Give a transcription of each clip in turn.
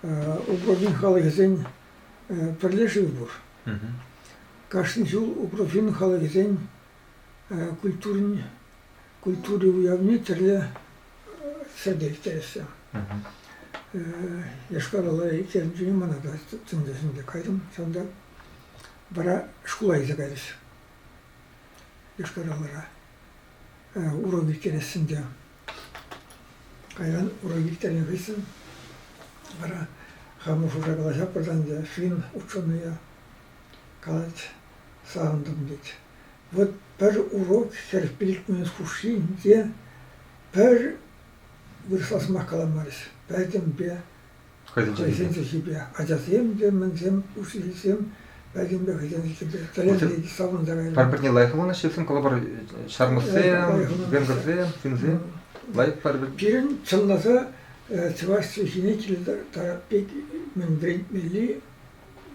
Упраҫин халӑхӗсен пӗрле шыв пур. Кашни ҫул Упраҫин халӑхӗсен культурин культури уявне тӗрлӗ ҫӗрте ирттереҫҫӗ. Йошкар-Ола ирттернӗ чухне мана та тӗмсесенче кайрӑм. Ҫавӑнта вара шкула илсе кайрӗҫ. Йошкар-Олара урок ирттерессин те. Кайран ура виттернӗ хыҫҫӑн вара хамӑр шута калаҫатпӑр та ӗнтӗ ҫын ученӑя калать, савӑнтӑм тет. Вот пӗр урок хӗр пилӗкмӗш хушшин те пӗр вырӑсла сӑмах каламарӗҫ. Пӗтӗмпе Хӑйсен чӗлхипе. Ачасем те, мӗнсем, учительсем пӗтӗмпе хӑйсен чӗлхипе тӗлӗнтерекен савӑнтарать. Пӗр-пӗрне лайӑх вылнаҫҫӗ калӑпӑр ҫармӑссем, венгрсем, финсем лайӑх пӗр-пӗр. Пирӗн чӑнласа чӑваш чӗлхине киле тарап пек мӗн вӗрентмелли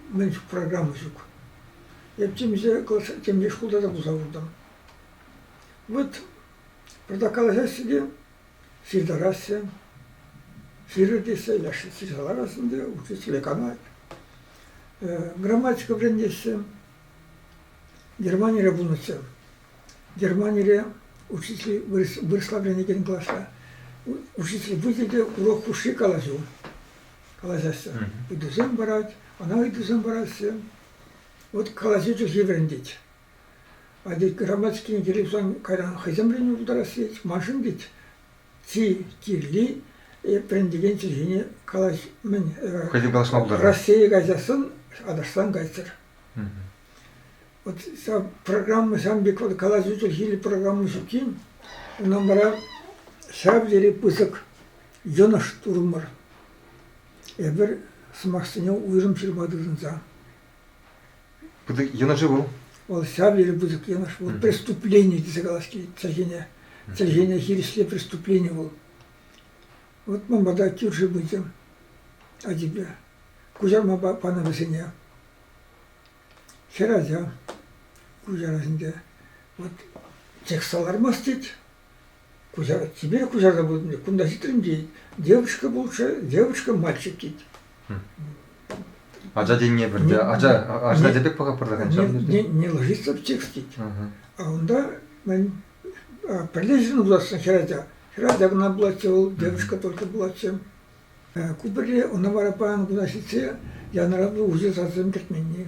мӗн программа ҫук. Эп темле шкулта та пулса куртӑм. Вот, правда, калаҫаҫҫӗ те, Ҫыртараҫҫӗ. Ҫырӑтеҫҫӗ, яшка ҫырса лараҫҫӗ ӗнтӗ, учитель канать. Грамматика вӗрентеҫҫӗ. Германире пулнӑччӗ. Германире учитель вырӑсла вӗренекен класра учитель пычӗ те урок хушши калаҫу калаҫаҫҫӗ. Ыйтусем парать, ӑна ыйтусем параҫҫӗ. Вот калаҫу чӗлхи вӗрентет. А тет грамматикин телевизоран кайран хӑйсем вӗренме пултарас тет, маншӑн тет чи кирли вӗрен текен чӗлхене калаҫ-мӗн. Хӑйсем калаҫма пултарать. Раҫҫее кайсассӑн Атӑрҫтан кайччӑр. Вот ҫав программа ҫав пек вот калаҫу чӗлхиллӗ программа ҫуккин, унан вара ҫав тери пысӑк йӑнӑш турӑмӑр. Эпир сӑмахсене уйрӑм ҫырма тытӑнса. Йӑнӑшӗ вӑл? Вӑл ҫав тери пысӑк йӑнӑш. Вӑл преступлени тесе калас килет чӗлхене. Чӗлхене хирӗҫле преступлени вӑл. Вот ман пата кӳрши пычӗ ачипе. Куҫарма панӑ вӗсене. Хӗр ача куҫарасинче. Вот чек салармасть тет, Куҫар, тепер куҫарса путӑн, кунта ҫитрӗм тет. Девочка пулчӗ, девочка мальчик тет. Ача тенине пӗлте. Ача ача пек пӑхап пырса ҫав. Не, не ложится в текст тет. А унта мен пӗрлешӗн утассан хӗрача. Хӗрача кӑна пулатчӗ вӑл, девушка только пулатчӗ. Ку пӗрре ӑна вара паян куна ҫитсе янӑратнӑ уҫӑ сасӑсем кӗтменни.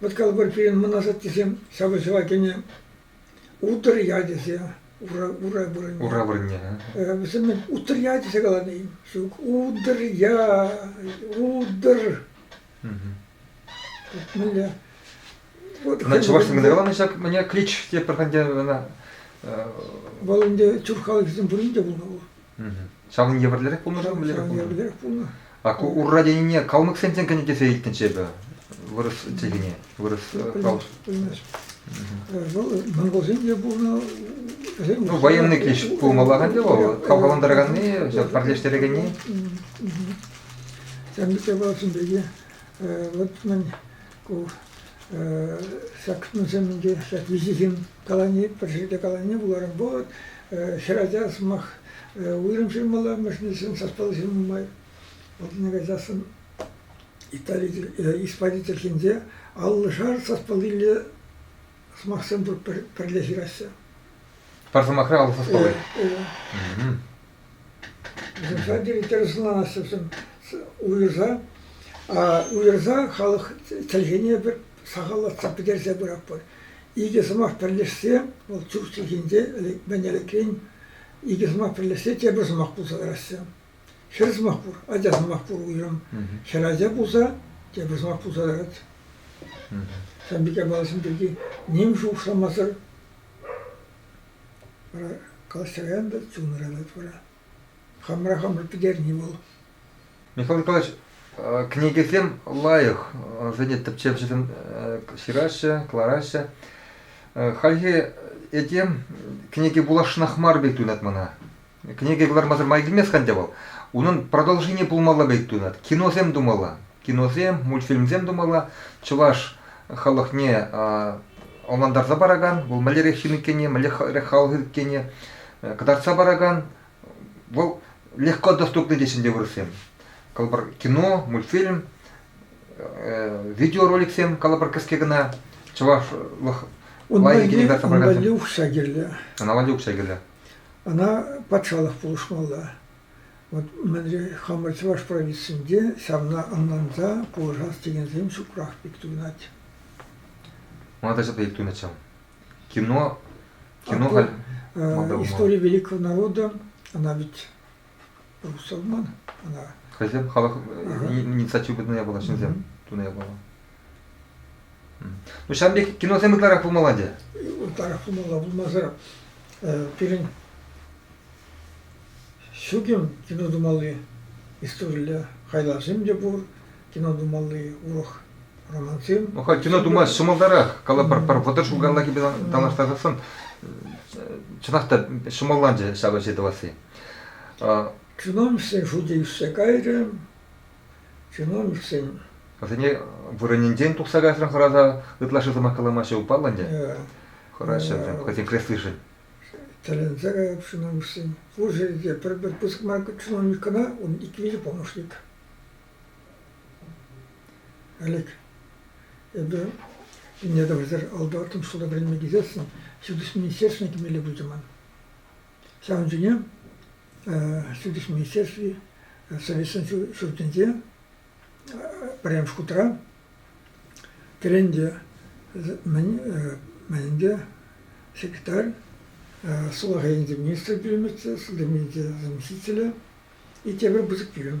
Ваткалпӑр пирӗн мӑн асаттесем ҫапӑҫӑва кӗнӗ Утӑр ячӗсе ура ура вырӑнне. Ура вырӑнне. Вӗсем мӗн Утӑр я тесе каланӑ-и? Ҫук. Утӑр я, утӑр. Мӗнле? Ӑна чӑваш тӗлӗнде каланӑ ҫак мӗне клич те пӗр ӗнтӗ ӑна. Вӑл ӗнтӗ тюрк халӑхӗсем пурин те пулнӑ вӑл. Ҫакӑн евӗрлерех пулнӑ-ши? Ҫакӑн евӗрлерех пулнӑ. А урра тенине калмӑксенчен кӗнӗ тесе илтнӗччӗ эпӗ вырӑс чӗлхине, вырӑс калӑш. Вӑл монголсен те пулнӑ. Ну, военный киш пулмалла ӗнтӗ вӑл, хавхалантараканни, пӗрлештерекенни. Ҫавӑн пек япаласем пирки вот мӗн Ку ҫак кунсем инке ҫак виҫӗ ҫын калани пӗр ҫӗрте калани пуларӑм. Вот хӗр ача сӑмах уйрӑм ҫырмалла, мӗшӗнсен саспалли ҫырма май. Вот мне кажется, Испани тӗркинче аллӑшар саспаллилле сӑмахсем пӗрле ҫыраҫҫӗ. Пӗр сӑмахра аллӑ саспалли. Председатель тӗрӗсланасшӑн уйӑрса, уйӑрса халӑх чӗлхене пӗр сахаллатса пӗтерсе пыратпӑр. Икӗ сӑмах пӗрлешсе, вӑл тӳр чӗлхинче мӗн ӗлекрен икӗ сӑмах пӗрлешсе тепӗр сӑмах пулса тӑраҫҫӗ. Хӗр сӑмах пур, ача сӑмах пур уйрӑм. Хӗр ача пулса тепӗр сӑмах пулса тӑрать. Сан пике баласем пирки ним шухӑшламасӑр Вара калаҫса каям та чун ыратать вара. Хамӑра хамӑр пӗтерни вӑл. Михаил Николаевич, кӗнекесем лайӑх, вӗсене тӗпчевҫӗсем ҫыраҫҫӗ, кӑлараҫҫӗ. Хальхи этем кӗнеке вуласшӑнах мар пек туйӑнать мана. Кӗнеке кӑлармасӑр май килмест-ха ӗнтӗ вӑл. Унӑн продолжени пулмалла пек туйӑнать. Киносем тумалла, киносем, мультфильмсем тумалла. Чӑваш халӑхне ӑнлантарса паракан, вӑл мӗнлерех ҫын иккенне, мӗнлерех халӑх иккенне кӑтартса паракан, вӑл легко доступный теҫҫӗ ӗнтӗ вырӑссем. Калӑпӑр, кино, мультфильм, видеороликсем, калӑпӑр, кӗске кӑна чӑвашлӑх лайӑххине кӑтартса паракансем. Валюк ҫа кирлӗ. Ӑна Валюк ҫа кирлӗ. Ӑна патшалӑх пулӑшмалла. Вӑт мӗнре хамӑр чӑваш провинцинче ҫавна ӑнланса пулӑшас текенсем ҫукрах пек туйӑнать. Манта ҫӑта ик тунӑччӗ. Кино, кино халь... Истори великого народа, ӑна вӗт Русалман ӑна. Хӑйсем халӑх инициатива пытнӑ япала, ҫынсем тунӑ япала. Ну ҫавӑн пек киносем ытларах пулмалла ӗнтӗ. Ытларах пулмалла, пулмасӑр пирӗн ҫуким кино тумалли, историлле хайлавсем те пур, кино тумалли урӑх романсем. Ну халь кино тума ҫӑмӑлтарах, кала пӗр пӗр вӑтӑр ҫул каялла килпе танлаштарсан чӑнах та ҫӑмӑлланчӗ ҫав ӗҫе тӑвасси. Чиновниксен шучӗ ӳссе кайрӗ. Чиновниксен... Вӗсене вырӑнӗнчен тухса кайсӑрӑн хӑраса ытлашши сӑмах каламаҫҫӗ упаллӑ ӗнтӗ. Хӑраҫҫӗ вӗсем хӑйсен креслишӗн. Тӗлӗнсе кайӑп чиновниксен. Пушӑ те пӗр-пӗр пысӑк мар чиновник кӑна, ун ик виҫӗ помощник. Алик, эпир Инедовӑсӑр алты-аттӑмш шкулта вӗренме килсессӗн ҫутӗҫ министерствине кӗмелле пулчӗ ман. Ҫавӑн чухне Сутич министерстви Советӑн ҫуртӗнче пӗрремӗш хутра кӗренте мӗнле секретарь, сулахай енче министр пӳлӗмӗччӗ, заместителӗ и тепӗр пысӑк пӳлӗм.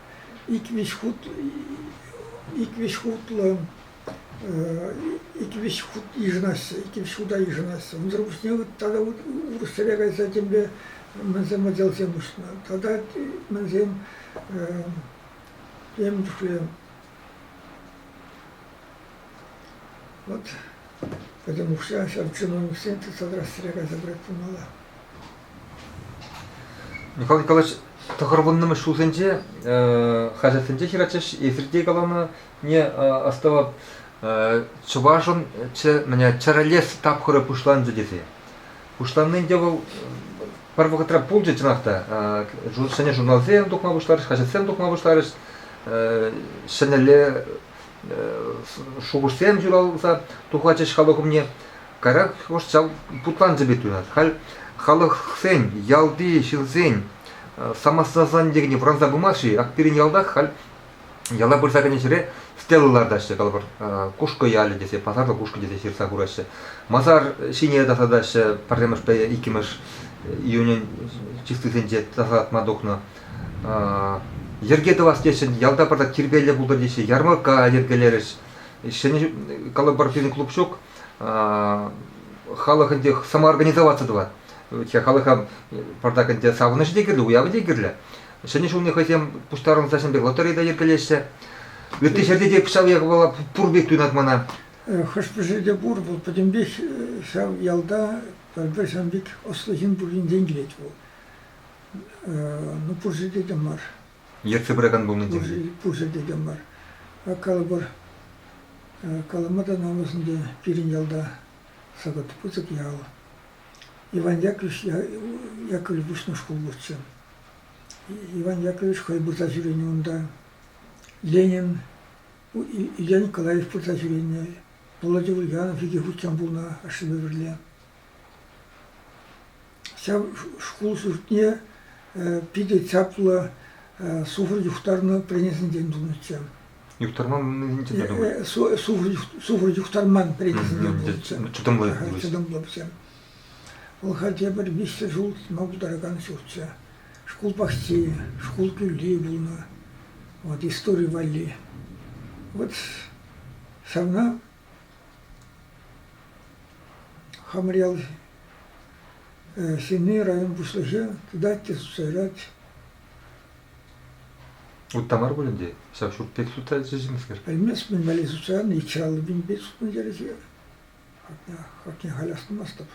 иквӗҫ хут иквӗҫ хутлӑ иквӗҫ хут йышӑнаҫҫӗ, иккӗмӗш хута йышӑнаҫҫӗ. Унсӑр пуҫне тата урӑхсӗре кайса темле мӗнсем отделсем уҫнӑ. Тата мӗнсем тем чухлӗ вот, поэтому ҫав чиновниксен ты содрать сӗре кайса брать пулмалла. Николай Николаевич, тӑхӑр вуннӑмӗш ҫулсенче хаҫатсенче ҫыратчӗҫ. Эсир те каланине астӑвӑп. Чӑвашӑн чӗрӗ лес тапхӑрӗ пуҫланчӗ тесе. Пуҫланни ӗнтӗ вӑл пӗр вӑхӑтра пулчӗ, чӑнах та. Ҫӗнӗ журналсем тухма пуҫларӗҫ, хаҫатсем тухма пуҫларӗҫ. Ҫӗнӗлле шухӑшсем ҫуралса тухатчӗҫ халӑх умне. Каярах шӑл путланса пек туйӑнать. Халь халӑхсен, ялти ҫынсен самосознание вӑранса пымасть-ши? Ак пирӗн ялтах халь яла пырса кӗнӗ ҫӗре стела лартаҫҫӗ, калӑпӑр, Кушкӑ ялӗ тесе, пасарлӑ Кушкӑ тесе ҫырса хураҫҫӗ. Масар ҫине тасатаҫҫӗ, пӗрремӗшпе иккӗмӗш июнӗн чистисенче тасатма тухнӑ. Йӗрке тӑвас теҫҫӗ, ялта пырса тирпейлӗ пултӑр теҫҫӗ, ярмӑркка йӗркелерӗҫ. Ҫӗнӗ, калӑпӑр, пирӗн клуб ҫук, халӑх ӗнтӗ самоорганизоваться тӑвать. халӑха партак ӗнтӗ савӑнӑҫӗ те кирлӗ, уявӗ те кирлӗ. Ҫӗнӗ ҫулне хӑйсем пуҫтарӑнса ҫын пек лотерейда йӗркелеҫҫӗ. Ытти ҫӗрте те ҫав япала пур пек туйӑнать мана. Хӑш-пӗҫӗ те пур, вӑл пӗтӗмпех ҫав ялта пӗр-пӗр ҫавӑн пек ӑслӑ ҫын пурринчен килет вӑл. Ну, пурҫӑ те мар. Ертсе пыракан пулнӑ тем-ши? Пушӑ текем мар. Калӑпӑр, калама та намӑсӑнчӗ пирӗн ялта Сӑкӑт Пысӑк ял. Иван Яковлевич, Яковлев пуҫнӑ шкул пурччӗ. Иван Яковлевич хӑй пырса ҫӳренӗ унта. Ленин, Илья Николаев пырса ҫӳренӗ. Володя Ульянов икӗ хутчен пулнӑ ашшӗпе пӗрле. Ҫав шкул ҫуртне питӗ чаплӑ суфр юхтарнӑ пленӗсенчен тунӑччӗ. Юхтарманнисенчен те тунӑ? Суфр юхтарман пленӗсенчен тунӑччӗ. Чӑтӑмлӑ пулӑҫ. Чӑтӑмлӑ пулӑҫ. Вӑл халь пӗр виҫҫӗр ҫул тытма пултаракан ҫуртчӗ. Шкул пахчи, шкул тулли пулнӑ. Вот истори валли. Вот ҫавна Хамрьял ҫынни район пуҫлӑхӗ предательство суйлать. Утта мар пулин те ҫав ҫурт пек сутса ӗҫлеҫӗмскер. Пӗлмест мӗн валли сутсан, икҫӗ аллӑ пинпе сутма кӗрӗҫӗ. Хакне халь астумастӑп.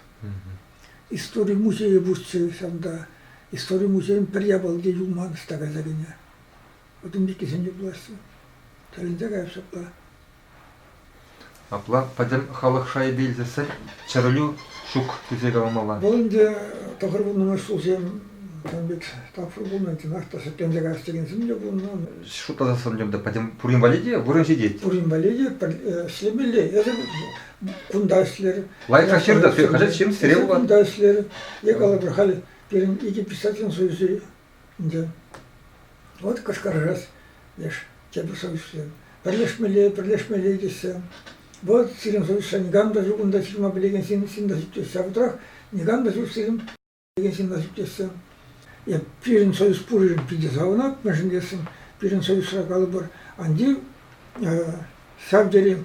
Истори музейӗ пурччӗ ҫавӑнта. Истори музейӗн пӗр япалки юлман ӑста кайса кӗнӗ. Вӑтӑм пиккисем те пулаҫҫӗ. Тӗлӗнсе кайӑп ҫапла. Апла пӗтӗм халӑх шайӗпе илсессӗн чӗрӗлӳ ҫук тесе каламалла. Вӑл ӗнтӗ тӑхӑр вуннӑмӗш ҫулсем кам пек тапхӑр пулнӑ, чӑнах та шикленсе каяс текенсем те пулнӑ. Шутласа сӑнлӑм та пӗтӗм пурин валли те вырӑн ҫитет. Пурин валли те ӗҫлемелле. Эсӗ кунта ӗҫлер. Лайӑхра ҫыртӑр, ты хаҫат ҫырӑн сире пулать. Кунта ӗҫлер. Эк алла халь пирӗн икӗ писателӗн союзӗ Ӗнтӗ вот кӑшкӑрарӑс, леш, тепӗр совещание. Пӗрлешмелле, пӗрлешмелле тесе. Вот сирӗн совещание никам та ҫук унта ҫырма пӗлекен ҫын ҫын та ҫук тесе. А вӑтӑрах никам та ҫук сирӗн пӗлекен ҫын та ҫук тесе. Я пирӗн совеҫ пурин питӗ савӑнать, мӗншӗн тесен пирӗн совеҫра калӑпӑр, анти ҫав тери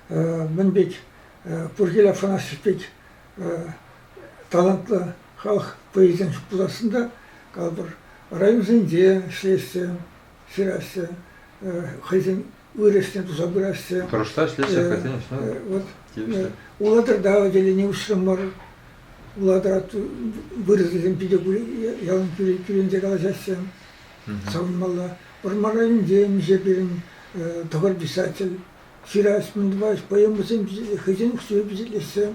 мӗн пек Пуркил Афанасьев пек талантлӑ халӑх поэчӗсем пуласшӑн калӑпӑр. Районсенче ӗҫлеҫҫӗ, ҫыраҫҫӗ, хӑйсен вырӑсне туса пыраҫҫӗ. Тӑрӑшса ӗҫлеҫҫӗ хӑйсен ӗҫне. Тивӗҫлӗ. Улатӑрта отделени уҫрӑмӑр. Улатӑра вырӑсӗсем питӗ ялан кӳренсе калаҫаҫҫӗ. Савӑнмалла. Вӑрмар районӗнче миҫе пирӗн тӑхӑр писатель ҫырас мӗн поэма хӑйсен укҫипе пичетлессе.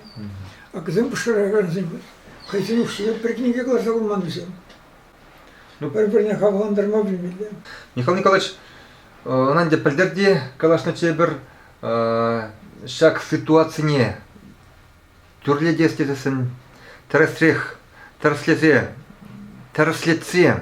Акӑсем пӑшӑрхакансем хӑйсен укҫине пӗртен те каласа пыман вӗсем. Ну, пӗр-пӗрне хавхалантарма пӗлмелле. Михаил Николаевич, ӑна ӗнтӗ пӗлтерти калаҫнӑччӗ эпир ҫак ситуацине тӳрлетес тесессӗн тӗрӗсрех тӗрӗслесе тӗрӗслетсе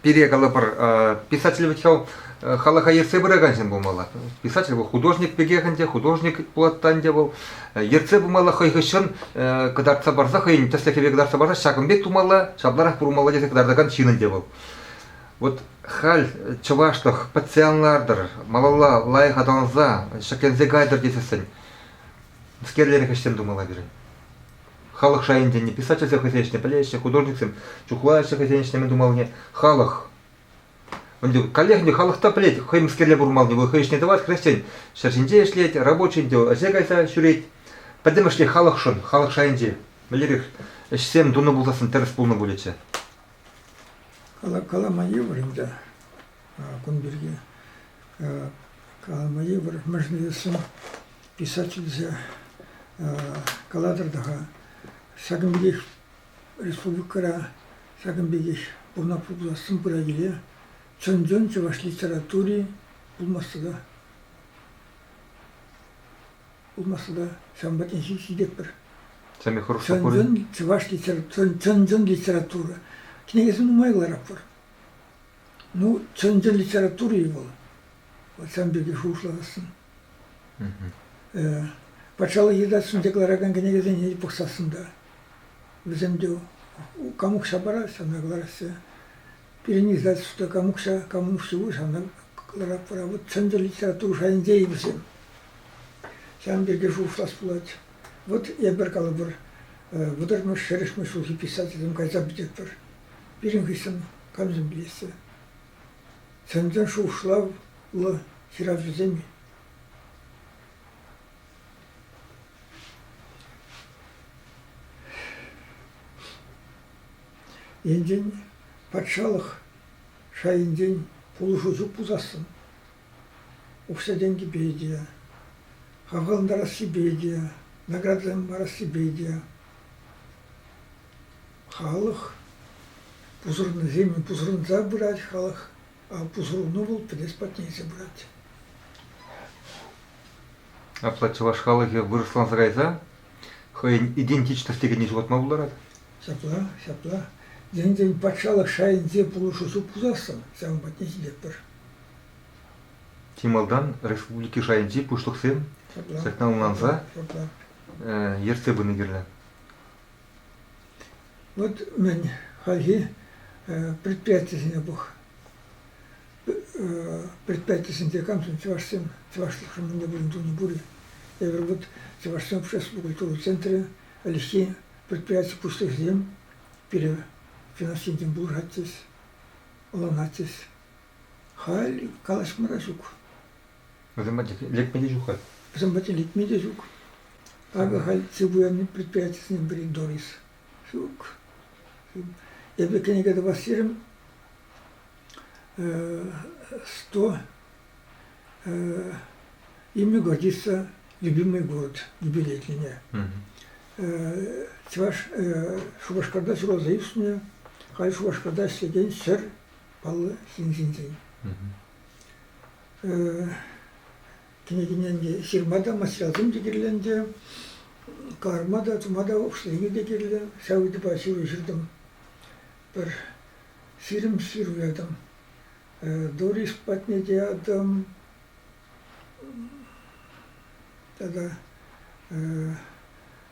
пире калӑпӑр писатель вӗт ҫав халӑха ертсе пыракан ҫын пулмалла. Писатель вӑл художник пекех ӗнтӗ, художник пулаттан ӗнтӗ вӑл. Ертсе пымалла хӑй хыҫҫӑн кӑтартса парса хӑйӗн тӗслӗхӗпе кӑтартса парса ҫакӑн пек тумалла, ҫапларах пурӑнмалла тесе кӑтартакан ҫын ӗнтӗ вӑл. Вот халь чӑвашлӑх пӗтсе ан лартӑр, малалла лайӑх аталанса, ҫӗкленсе кайтӑр тесессӗн мӗскерлерех ӗҫсем тумалла пирӗн. Халӑх шайӗн тенӗ писательсем хӑйсен ӗҫне пӗлеҫҫӗ, художниксем чухлаҫҫӗ хӑйсен ӗҫне мӗн тумаллине. Халӑх. Ӗнтӗ каллех ӗнтӗ халӑх та пӗлет хӑймӗскерле пурӑнмаллине, вӑл хӑй ӗҫне тӑвать, хресчен ҫӗр ҫинче ӗҫлет, рабочин тӗв ӗҫе кайса ҫӳрет. Пӗтӗмӗшле халӑхшӑн, халӑх шайӗнче мӗнлерех ӗҫсем тунӑ пулсассӑн тӗрӗс пулнӑ пулӗччӗ? Калама йывӑр ӗнтӗ. кун пирки калама йывӑр. Мӗншӗн тесен писатель тесе калатӑр та-ха, ҫакӑн пекех республикӑра ҫакӑн пекех пурӑна пурлассин пыра-киле чӑн-чӑн чӑваш литератури пулмасса та пулмасса та ҫавӑн патне ҫитетпӗр. Самый хороший чӑн-чӑн чӑваш литературы, чӑн-чӑн литература. Кӗнекесем нумайларах пур. Ну, чӑн-чӑн литература-и вӑл? Вот сан пирки шухӑшласассӑн. Патшалӑх Егидатсен декларакан кӗнекесене те пӑхсассӑн та, вӗсем те кам укҫа парать, ҫавна кӑлараҫҫӗ. Пирӗн издательство кам укҫа, кам укҫу ҫавна кӑларатпӑр. Вот чӑн-чӑн литература шайӗнче-и вӗсем? Ҫавӑн пирки шухӑшлас пулать. Вот эпир, калӑпӑр, вӑтӑрмӗш, шӗрӗшмӗш ҫулхи писательсем кайса пӗтетпӗр. Пирӗн хыҫҫӑн камсем пилеҫҫӗ? Чӑн-чӑн шухӑшлавлӑ ҫыравҫӑсем-и? Енчен патшалӑх шайӗнчен пулӑшусу пусассӑн укҫа-тенкӗпе те, хавхалантарассипе те, наградӑсем парассипе те Халӑх пусӑрнисем пусӑрӑнса пырать халӑх, а пусӑрӑну вӑл пӗлес патне илсе пырать. Апла чӑваш халӑхӗ вырӑсланса кайса хӑйӗн идентичность текенне ҫухатма пултарать. Ҫапла, ҫапла. Енчен патшалӑх шайӗнче пулӑшусу пусассӑн ҫавӑн патне ҫитетпӗр. Чи малтан республика шайӗнчи пуҫлӑхсем ҫакна ӑнланса ертсе пыни кирлӗ. Вот мӗн, хальхи предприятисене пӑх. Предприятисенче камсем чӑвашсем, чӑвашлӑхшӑн мӗнле вырӑн тупни пур-и? Эпир вот Чӑвашсен общество культура центрӗ, ӗлӗкхи предприяти пуҫлӑхӗсем пире финанс енчен пулӑшатчӗҫ, ӑнланатчӗҫ. Халь калаҫма та ҫук. Вӗсем пачах лекме те ҫук халь. Вӗсем пачах лекме те ҫук. Акӑ халь цифуянный предприятисенчен пӗрин Дорис. Ҫук. Эпӗ кӗнеке тӑвас терӗм. Сто имя годится «Любимый город» юбилейное. Чӑваш Шупашкарта ҫуралса ӳснӗ, халь Шупашкарта ӗҫлекен ҫӗр паллӑ ҫын ҫинчен. Кӗнекене ҫырма та, материалсем те кирленчӗ, кӑларма та, тума та ӑслине те кирлӗ. Ҫав ыйтупа ҫыру ҫыртӑм. Пӗр ҫирӗм ҫыру ятӑм. Дорис патне те ятӑм. Тата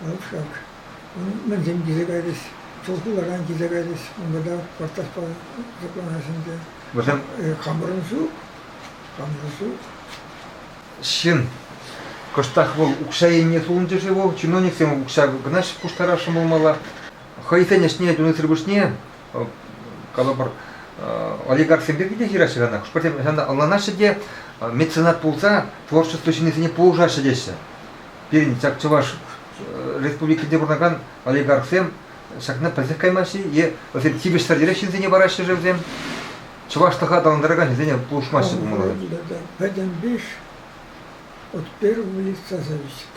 Кӑшак, мӗншӗн килсе кайрӗҫ? Чулхуларан килсе кайрӗҫ. Унта та портаҫпа тӑкланас ӗнтӗ. Вӗсем хамӑрӑн ҫук, хамӑрӑн ҫук. Ҫын кӑштах вӑл укҫа енне сулӑнчӗ-ши вӑл? Чиновниксем укҫа кӑна пуҫтарас ҫӑмӑлмалла. Хӑйсен ӗҫне тунисӗр пуҫне калӑпӑр, олигархсем пирки те ҫыраҫҫӗ ӑна. Хӑшпӗрсем ӑна ӑнланаҫҫӗ те меценат пулса творчество ҫыннисене пулӑшаҫҫӗ теҫҫӗ. Пирӗн ҫак чӑваш республикинче пурӑнакан олигархсем ҫакна пӗлсех каймаҫҫӗ е вӗсем тивӗҫсӗр йӗрӗ ҫынсене параҫҫӗ-ши вӗсем? Чӑвашлӑха аталантаракан ҫынсене пулӑшмаҫҫӗ пулмалла. Пӗтӗм биш от первого лица зависит.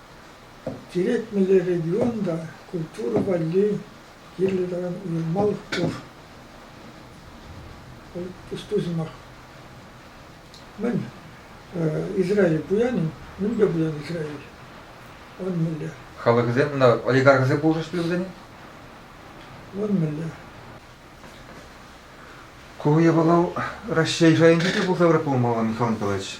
Черетмелле регион та культура валли кирлӗ таран уйрӑмах пур. Тусу сӑмах. Мӗн Израиль пуян-и? Мӗн те пуян Израиль. Он мелле. Халӑхӗсем ӑна олигархӑсем пулӑшаҫҫӗ вӗсене? Он мелле. Ку япала Раҫҫей шайӗнче те пулса выртмалла, Михаил Николаевич.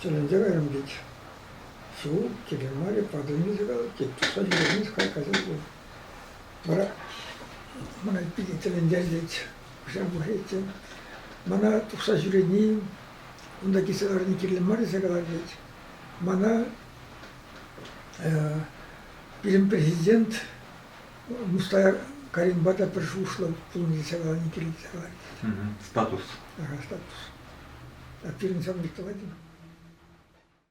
Тӗлӗнсе кайрӑм тет. Ҫул киле мар-и, подвинься кал, тет. Туса ҫӳремест кай кайсан пуль. Вара мана питӗ тӗлӗнтерчӗ тет. Кӑҫал пӑхатчӗ. Мана тухса ҫӳрени, унта килсе ларни кирлӗ мар тесе калать тет. Мана пирӗн президент Мустар Каримпа та пӗр шуслӑ пулнине саланни килӗнсе калать. Статус. Статус. А пирӗн сам никто мар.